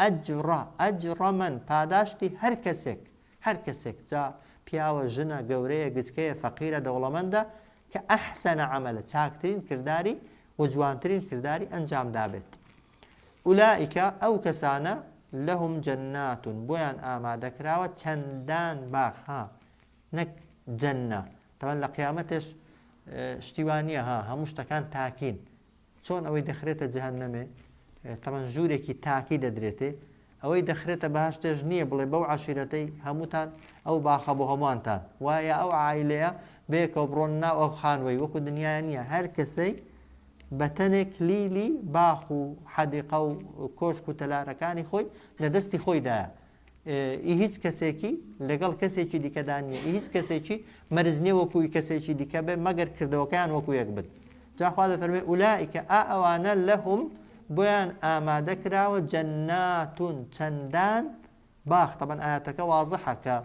ئەجڕ، ئەجڕ من، پاداشتی هەر کەسێک، هەر کەسێک، جا پیاوە، ژنە، گەورەیە، گچکەیە، فەقیرە، دەوڵەمەندە، کە احسن عملا چاکترین کرداری وجوانترین کرداری ئەنجام دابێت. اولئک، ئەو کەسانە، لهم جنات، بۆیان ئامادەکراوە چەندان باخ، ها، نەک جنە، تەبەن لە قیامەتێش شتی وا نیە، ها، هەموو شتەکان تاکین، چۆن ئەوەی دەخرێتە جەهەنەمێ تەمەن ژوورێکی تاکی دەدرێتێ ئەوەی دەخرێتە بەهشتێش نییە بڵێ بەو عشیرەتەی هەمووتان ئەو باخە بۆ هەمووانتان وایە ئەو عیلەیە بێکەوە بڕۆن ناو ئەو خانوەی وەکو دنیاە نییە هەر کەسەی بەتەنێ کلیلی باخ و حەدیقە و کۆشک و تەلارەکانی خۆی لە دەستی خۆیدایە ئی هیچ کەسێکی لەگەڵ کەسێکی دیکەدا نییە ئی هیچ کەسێکی مەرز نییە وەکوی کەسێکی دیکە بێ مەگەر کردەوەکەیان وەکو یەک بن جاخوا دەفەرمێ ئولائیکە ئا ئەوانە لەهم بۆیان ئامادە کراوە جەناتون چەندان باخ تەبەن ئاەتەکە وازحە کە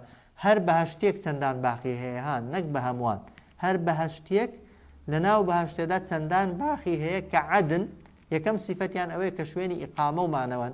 هەر بەهشتێک چەندان باخی هەیە ها نەک بە هەمووان هەر بەهشتێک لە ناو بەهشتێدا چەندان باخی هەیە کە عادن یەکەم سیفەتیان ئەوەیە کە شوێنی ئیقامە و مانەوەن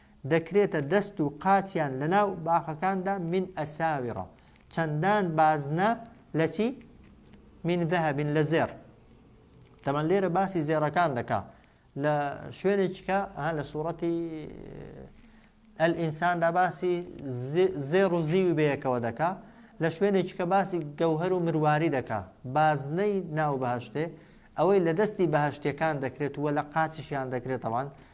دەکرێتە دەست و قاچیان لەناو باخەکاندا من اساور چەندان بازنە لە چی من ذهب لە زێڕ تەمان لێرە باسی زێڕەکان دەکا لە شوێنێکیکە ها لە سوورەتی ئەلئینساندا باسی زێڕ و زیوی بەیەکەوە دەکا لە شوێنێکی کە باسی گەوهر و مرواری دەکا بازنەی ناو بەهشتێ ئەوەی لە دەستی بەهشتەکان دەکرێت وە لە قاچشیان دەکرێتەوان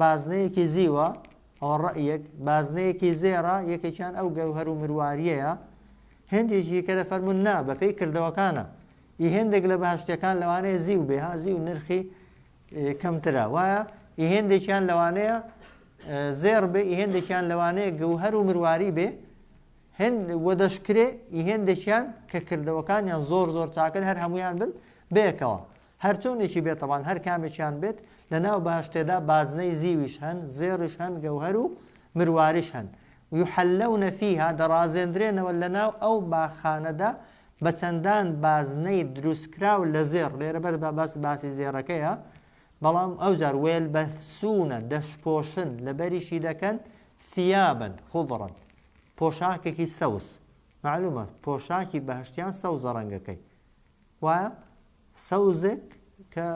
بازنەیەکی زیوە، ئەوە ڕەئیەک، بازنەیەکی زێڕە، یەکێکیان ئەو گەوهەر و مروارییەیە، هێندێکی دیکە دەفەرموون نا، بەپێی کردەوەکانە، ئی هێندێک لە بەهەشتیەکان لەوانەیە زیو بێ، ها زیو نرخی کەمترە، وایە، ئی هێندێکیان لەوانەیە زێڕ بێ، ئی هێندێکیان لەوانەیە گەوهەر و مرواری بێ، هێند و دەشکرێ ئی هێندێکیان کە کردەوەکانیان زۆر زۆر چاکن هەر هەموویان بن بەیەکەوە. هەرچۆنێکی بێت تەبان هەر کامێکیان بێت لە ناو بەهەشتێدا بازنەی زیویش هەن زێڕیش هەن گەوهەر و مرواریش هەن یحلون فیها دەڕازێندرێنەوە لە ناو ئەو باخانەدا بە چەندان بازنەی دروستکراو لە زێڕ لێرە بەر بە بەس باسی زێڕەکەیە بەڵام ئەو جار وێل بە سوونە دەشپۆشن لە بەریشی دەکەن ثیابن خضرن پۆشاکێکی سەوز معلومە پۆشاکی بەهشتیان سەوزە ڕەنگەکەی وایە سەوزێک کە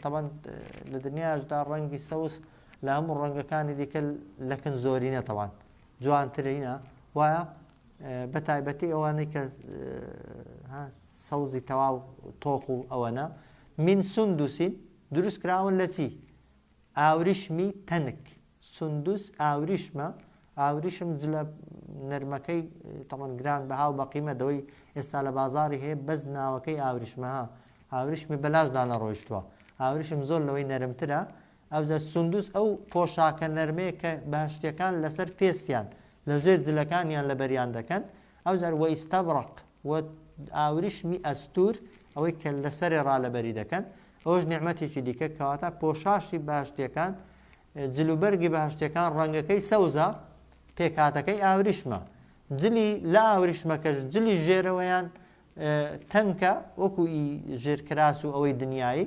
تەبەن لە دنیاشدا ڕەنگی سەوز لە هەموو ڕەنگەکانی دیکە لەکن زۆرینە تەوان جوانترینە وایە بە تایبەتی ئەوانەی کە سەوزی تەواو تۆخ و ئەوەنە من سندوسین دروست کراون لە چی ئاوریشمی تەنک سوندوس ئاوریشمە ئاوریشم جلە نەرمەکەی تەمان گران بەها و بەقیمە دەوەی ئێستا لە بازاری هەیە بەس ناوەکەی ئاوریشمەها ئاوریشمی بەلاش دانە ڕۆیشتووە ئاوریشم زۆر لەوەی نەرمترە ئەوجا سوندوس ئەو پۆشاکە نەرمەیە کە بەهشتەکان لەسەر پێستیان لە ژێر جلەکانیان لە بەریان دەکەن ئەوجار وە ئیستەبڕق و ئاوریشمی ئەستور ئەوەی کە لەسەرێ ڕالەبەری دەکەن ئەوش نیعمەتێکی دیکە کەواتە پۆشاشی باشتیەکان جلوبەرگی بەهەشتیەکان ڕەنگەکەی سەوزە، پێکهاتەکەی ئاوریشمە. جلی لە ئاوریشمەکەش جلی ژێرەوەیان تەنکە وەکو ئی ژێر کراس و ئەوەی دنیایی،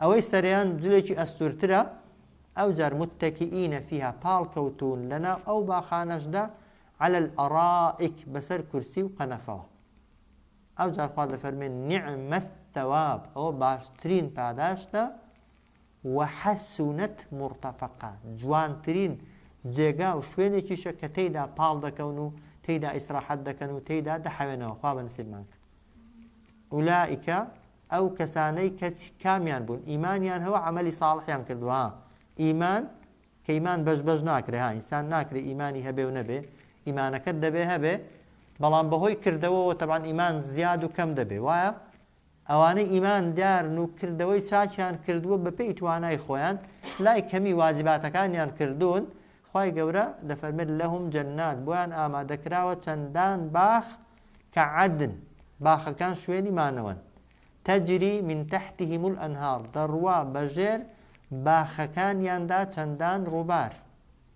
ئەوەی سەرەیان جلێکی ئەستورترە، ئەوجار متەکیینە فیها پاڵکەوتوون لەناو ئەو باخانەشدا علی الارائک بەسەر کورسی و قەنەفەوە. ئەوجار خوا دەفەرمێ نعم الثواب ئەوە باشترین پاداشتە، وحسنت مرتفقا، جوانترین جێگا و شوێنێکیشە کە تێیدا پاڵ دەکەون و تێیدا ئیسراحەت دەکەن و تێیدا دەحەوێنەوە، خوا بە نسیبمان کە. ئولائیک، ئەو کەسانەی کە چ کامیان بوون؟ ئیمانیان هەوە عەمەلی ساڵحیان کردووە ها، ئیمان کە ئیمان بەش بەش ناکرێ ها، ئینسان ناکرێ ئیمانی هەبێ و نەبێ، ئیمانەکەت دەبێ هەبێ، بەڵام بەهۆی کردەوەوە تەبعەن ئیمان زیاد و کەم دەبێ، وایە؟ ئەوانەی ئیمان دارن و کردەوەی چاکیان کردووە بەپێی توانای خۆیان لای کەمی واجباتەکانیان کردوون خوای گەورە دەفەرمێت لهم جنات بۆیان ئامادەکراوە چەندان باخ کە عدن باخەکان شوێنی مانەوەن تجری من تحتهم الانهار دەڕوا بەژێر باخەکانیاندا چەندان ڕووبار.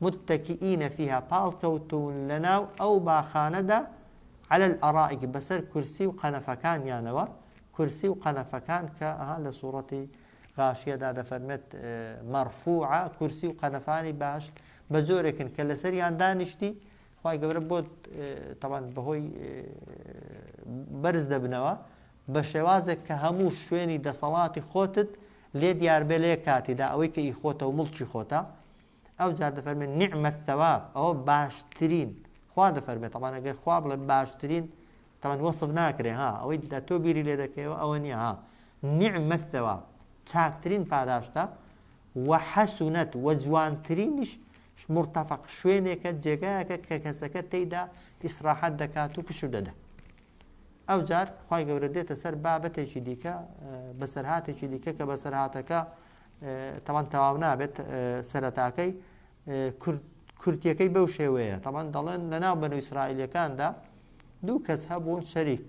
متکیین فیها پاڵکەوتوون لەناو ئەو باخانەدا علی الارائک بەسەر کورسی و قەنەفەکانیانەوە کورسی و قەنەفەکان کە لە سوڕەتی غاشیەدا دەفەرمێت مەڕفوعە کورسی و قەنەفانی بەهەشت بە جۆرێکن کە لەسەریان دانیشتی خی گەورە بۆ تەوان بەهۆی بەرز دەبنەوە بە شێوازێک کە هەموو شوێنی دەسەڵاتی خۆتت لێ دیاربێ لێ کاتیدا ئەوەی کە ئی خۆتە و مڵکی خۆتە ئەوجا دەفەرمێت نعمە الثواب ئەوە باشترین خوا دەفەرمێت طبعا ئەگەر خوا بڵێ باشترین طبعا وەصف ناکرێ ها ئەوەی دە تۆ بیری لێ دەکەیەوە ئەوە نییە ها نعمە الثواب چاکترین پاداشتە و حەسونەت و جوانترینیش مرتفق شوێنێکە جێگایەکە کە کەسەکە تێیدا ئیسراحەت دەکات و پشو دەدا ئەو جار خی گەورە دێتە سەر بابەتێکی دیکە بەسەرهاتێکی دیکە کە بەسەرهاتەکە تاوان تەواو نابێت سەرەتاکەی کورتیەکەی بەو شێوەیە تاوان دەڵێن لە ناو بەن و ئیسرائیلەکاندا دوو کەس هەبوون شەریک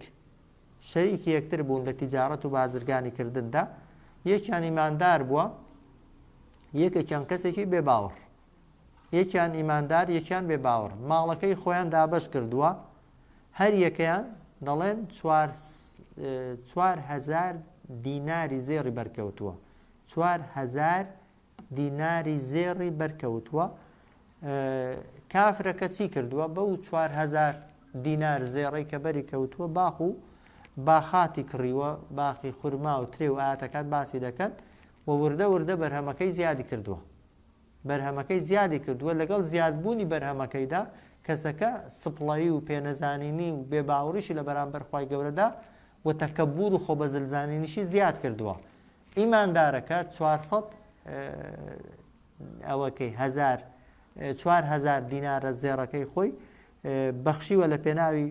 شەریکی یەکتر بوون لە تیجارەت و بازرگانی کردندا یەکیان ئیماندار بووە یەکێکیان کەسێکی بێ باوەڕ یەکیان ئیماندار یەکیان بێ باوەڕ ماڵەکەی خۆیان دابش کردووە هەر یەکەیان دەڵێن چوار چوار هەزار دیناری زێڕی بەرکەوتووە چوار هەزار دیناری زێڕی بەرکەوتووە کافرەکە چی کردووە بەو چوار هەزار دینار زێڕی کە بەری کەوتووە باخ و باخاتی کڕیوە باخی خورما و ترێ و ئاتەکان باسی دەکەن و وردە وردە بەرهەمەکەی زیادی کردووە بەرهەمەکەی زیادی کردووە، لەگەڵ زیادبوونی بەرهەمەکەیدا کەسەکە سپڵەیی و پێنەزانینی و بێ باوڕیشی لە بەرامبەر خوای گەورەدا و تەکەبوور و خۆبەزل زانینیشی زیاد کردووە ئیماندارەکە چوار سەد ئەوە کەی هەزار چوار هەزار دینارە زێڕەکەی خۆی بەخشیوە لە پێناوی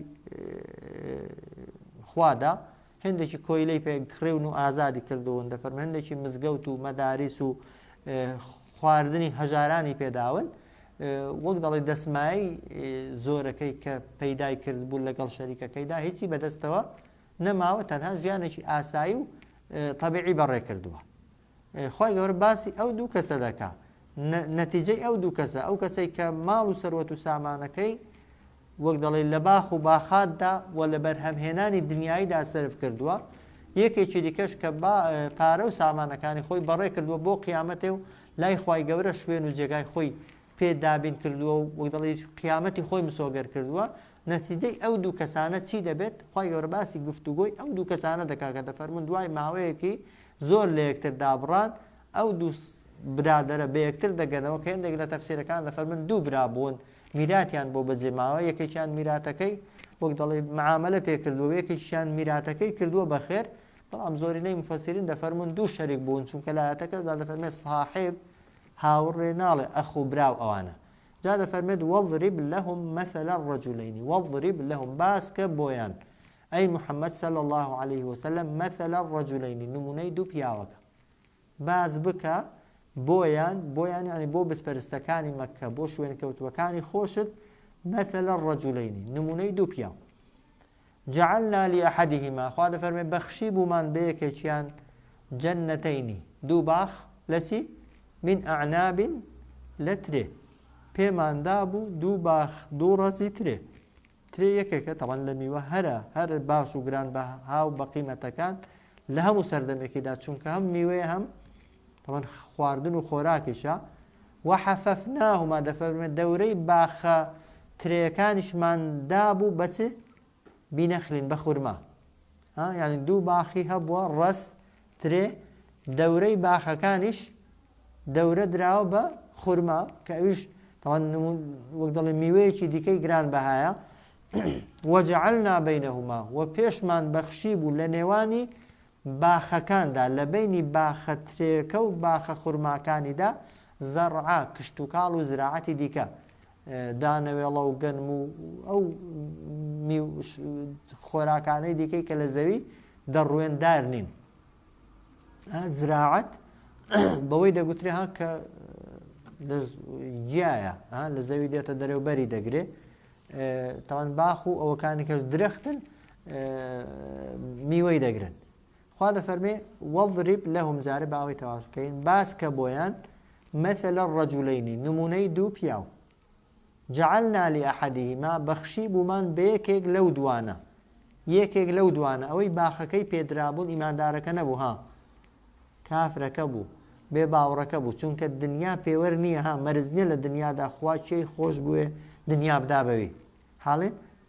خوادا هێندێکی کۆیلەی پێ کڕیون و ئازادی کردوون، دەفەرمێ هێندێکی مزگەوت و مەداریس و خواردنی هەژارانی پێ داون، وەک دەڵێ دەسمایەی زۆرەکەی کە پەیدای کردبوو لەگەڵ شەریکەکەیدا هیچی بەدەستەوە نەماوە، تەنها ژیانێکی ئاسایی و تەبیعی بەڕێ کردووە. خوای گەورە باسی ئەو دوو کەسە دەکا نەتیجەی ئەو دوو کەسە ئەو کەسەی کە ماڵ و سەروەت و سامانەکەی وەک دەڵێ لە باخ و باخاتدا و لە بەرهەمهێنانی دنیاییدا سرف کردووە یەکێکی دیکەش کە پارە و سامانەکانی خۆی بەڕێ کردووە بۆ قیامەتێ و لای خی گەورە شوێن و جێگای خۆی پێ دابین کردووە و وەک دەڵی قیامەتی خۆی مسۆگەر کردووە نەتیجەی ئەو دوو کەسانە چی دەبێت خی گەورە باسی گفتوگۆی ئەو دوو کەسانە دەکا کە دەفەرمون دوای ماوەیەکی زۆر لە یەکتر دابڕان، ئەو دوو برادەرە بە یەکتر دەگەنەوە کە هێندێک لە تەفسیرەکان دەفەرموون دوو برا بوون میراتیان بۆ بەجێ ماوە، یەکێکیان میراتەکەی وەک دەڵێ معامەلە پێ کردووە و یەکێکیان میراتەکەی کردووە بە خێر، بەڵام زۆرینەی موفەسیرین دەفەرموون دوو شەریک بوون، چونکە لە ئایەتەکەدا دەفەرمێت ساحێب هاوڕێ ناڵێ ئەخ و برا و ئەوانە. جا دەفەرمێت وەضرب لەهم مەثل الرجلین وەضرب لەهم باسکە بۆیان ئەی محمد صلی اللە علیە وسلم مثل الرجلین نمونەی دوو پیاوەکە باس بکە بۆیان بۆیان یعنی بۆ بتپەرستەکانی مەککە بۆ شوێن کەوتوەکانی خۆشت مثل الرجلین نمونەی دوو پیاو جعلنا لأحدهما خوا دەفەرمێ بەخشی بوومان بەیەکێکیان جەنەتەینی دوو باخ لەچی من ئەعنابین لە ترێ پێماندا بوو دوو باخ دوو ڕەزی ترێ ترێ یەکێکە تەبەن لە میوە هەرە هەر باش و گران بە هاو بە قیمەتەکان لە هەموو سەردەمێکیدا چونکە هەم میوەیە هەم تەبەن خواردن و خۆراکیشە وحەفەفناهما دەفەرمێ دەورەی باخە ترەکانیشمان دابوو بەچ بینەخلین بە خورما یعنی دوو باخی هەبووە ڕەس ترێ، دەورەی باخەکانیش دەورە دراوە بە خورما کە ئەویش تاوان وەک دەڵێ میوەیەکی دیکەی گران بەهایە وەجعلنا بینهما و پێشمان بەخشی بوو لە نێوانی باخەکاندا لە بینی باخە ترێکە و باخە خورماکانیدا زەڕعا کشتتوکاڵ و زراعەتی دیکە دانەوێڵە و گەنم و ئەو خۆراکانەی دیکەی کە لە زەوی دەڕوێندار نین زراعەت بەوەی دەگوترێ ها کە گیایە لە زەوی دێتە دەرەوبەری دەگرێ تاوان باخ و ئەوەکانی کەس درەختن میوەی دەگرن خوا دەفەرمێ، وەضرب لەهم، جارێ با ئەوەی تەواوش بکەین، باسکە بۆیان، مثل الرجلین، نموونەی دوو پیاو، جعلنا لأحدهما، بەخشیبوومان بە یەکێک لەو دووانە، یەکێک لەو دووانە، ئەوەی باخەکەی پێ درابوون ئیماندارەکە نەبوو ها، کافرەکە بوو، بێ باوڕەکە بوو، چونکە دنیا پێوەر نییە ها، مەرج نییە لە دنیادا خوا کێی خۆش بوێ دنیا بدا بەوی، حاڵێ؟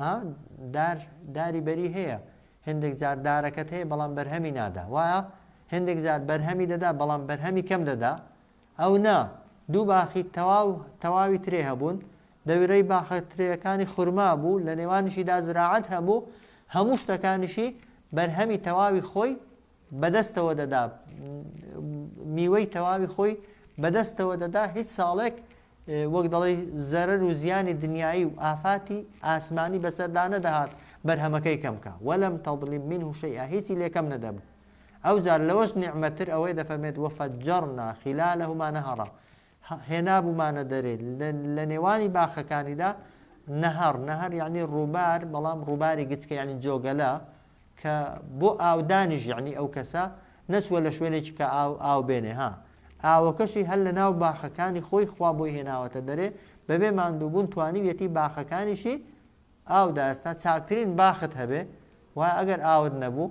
ئا دار داری بەری هەیە هێندێک جار دارەکەت هەیە بەڵام بەرهەمی نادا وایە هێندێک جار بەرهەمی دەدا بەڵام بەرهەمی کەم دەدا ئەو نا دوو باخی تەواو تەواوی ترێ هەبوون دەویرەی باخە ترێەکانی خورما بوو لە نێوانیشیدا زراعەت هەبوو هەموو شتەکانیشی بەرهەمی تەواوی خۆی بەدەستەوە دەدا میوەی تەواوی خۆی بەدەستەوە دەدا هیچ ساڵێک وەک دەڵی زەرەر و زیانی دنیایی و ئافاتی ئاسمانی بەسەردا نەدەهات بەرهەمەکەی کەمکە وەلم تەظلیم من و شەیئا هیچی لێکەم نەدەبوو ئەو جار لەوەش نیعمەتر ئەوەی دەفەرمێت وەفەجەڕنا خلالهما نهرا هێنابوومانە دەرێ، لە نێوانی باخەکانیدا نەهەڕ، نەهەر یەعنی ڕووبار، بەڵام ڕووباری گچکە یەعنی جۆگەلە، کە بۆ ئاودانیش یەعنی ئەو کەسە نەچووە لە شوێنێکی کە ئاو ئاو بێنێ ها، ئاوەکەشی هەر لە ناو باخەکانی خۆی خوا بۆی هێناوەتە دەرێ، بەبێ ماندووبوون توانیویەتی باخەکانیشی ئاو دا ئێستا چاکترین باخت هەبێ وایە ئەگەر ئاوت نەبوو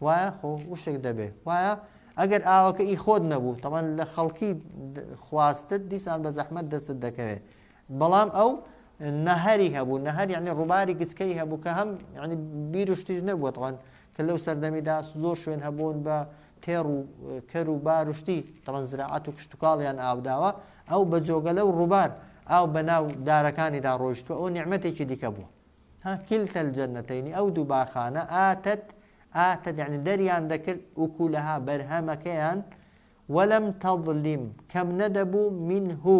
وایە خۆ وشک دەبێ وایە ئەگەر ئاوەکە ئی خۆت نەبوو تەمان لە خەڵکی خواستت دیسان بە زەحمەت دەستت دەکەوێت بەڵام ئەو نەهری هەبوو نەهر یعنی ڕووباری گچکەی هەبوو کە هەم ینی بیرشتیش نەبووەوان کە لەو سەردەمیدا زۆر شوێن هەبوون بە تێڕ و کەر و بار و شتی تەڵەن زراعەت و کشتتوکاڵیان ئاوداوە ئەو بە جۆگەلە و ڕووبار ئاو بە ناو دارەکانیدا ڕۆیشتوە ئەو نیعممەتێکی دیکە بووە ها کلتە جەنەتەینی ئەو دوو باخانە ئاتەت ئاتە دەعنی دەریان دەکرد وکو لەها بەرهەمەکەیان وەلم تەظلیم کەم نەدەبوو من هو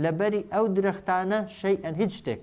لەبەری ئەو درەختانە شەی ئەن هیچ شتێک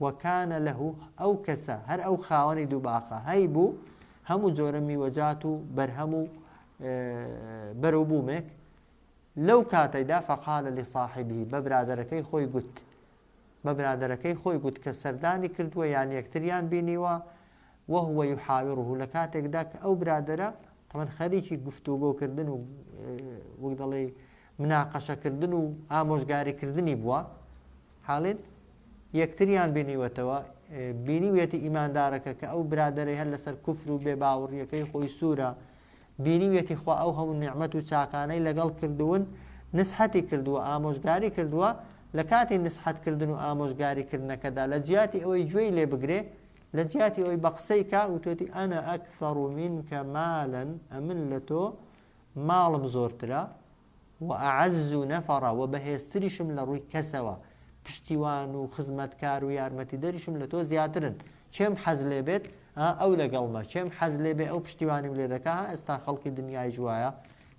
وکان لە ئەو کەسە هەر ئەو خاوەنی دوو باخە هەی بوو هەموو جۆرە میوەجات و بەرهەم و بەرەو بوومێک لەو کاتەیدا فەقالە لە ساحبی بە برادەرەکەی خۆی گوت بە برادەرەکەی خۆی گوت کە سەردانی کردووە یان یەکتریان بینیوە وهوە یحاویڕه لە کاتێکدا کە ئەو برادرە تەمەەن خەریکی گفتوگۆکردن و وەک دەڵێ مناقەشەکردن و ئامۆژگاریکردنی بووە حاڵین یەکتریان بینیوەتەوە، بینیویەتی ئیماندارەکە کە ئەو برادەرەی هەر لەسەر کوفر و بێ باوڕیەکەی خۆی سوورە، بینیویەتی خوا ئەو هەموو نیعمەت و چاکانەی لەگەڵ کردوون نسحەتی کردووە ئامۆژگاری کردووە، لە کاتی نسحەت کردن و ئامۆژگاری کردنەکەدا لە جیاتی ئەوەی گوێی لێ بگرێ لە جیاتی ئەوەی بە قسەی کا وتوەتی انا اکثر منک مالا ئەمن لە تۆ ماڵم زۆرترە، وأعز نفرا وە بەهێزتریشم لە ڕووی کەسەوە پشتیوان و خزمەتکار و یارمەتیدەریشم لە تۆ زیاترن کێم حەز لێ بێت ها ئەو لەگەڵمە کێم حەز لێ بێ ئەو پشتیوانیم لێ دەکا ها ئێستا خەڵکی دنیایش وایە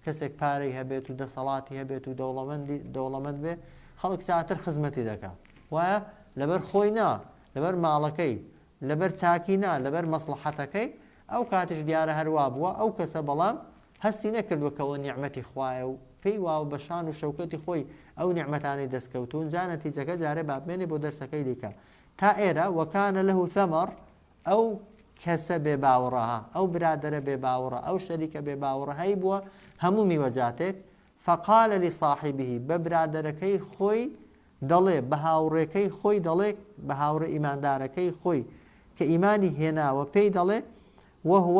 کەسێک پارەی هەبێت و دەسەڵاتی هەبێت و دەوڵەمەندی دەوڵەمەند بێ خەڵک زیاتر خزمەتی دەکا وایە لەبەر خۆی نا لەبەر ماڵەکەی لەبەر چاکی نا لەبەر مەسڵەحەتەکەی ئەو کاتیش دیارە هەروا بووە ئەو کەسە بەڵام هەستی نەکردووە کە ئەوە نیعمەتی خوایە و پێی وایە بە شان و شەوکەتی خۆی ئەو نیعمەتانەی دەستکەوتوون، جا نەتیجەکە جارێ بابمێنێ بۆ دەرسەکەی دیکە تا ئێرە، وکان له ثمر، ئەو کەسە بێ باوڕە، ئەو برادەرە بێ باوڕە، ئەو شەریکە بێ باوڕە هەیبووە هەموو میوەجاتێک، فقال لصاحبه، بە برادەرەکەی خۆی دەڵێ، بە هاوڕێکەی خۆی دەڵێ، بە هاوڕێ ئیماندارەکەی خۆی کە ئیمانی هێناوە پێی دەڵێ، وهو،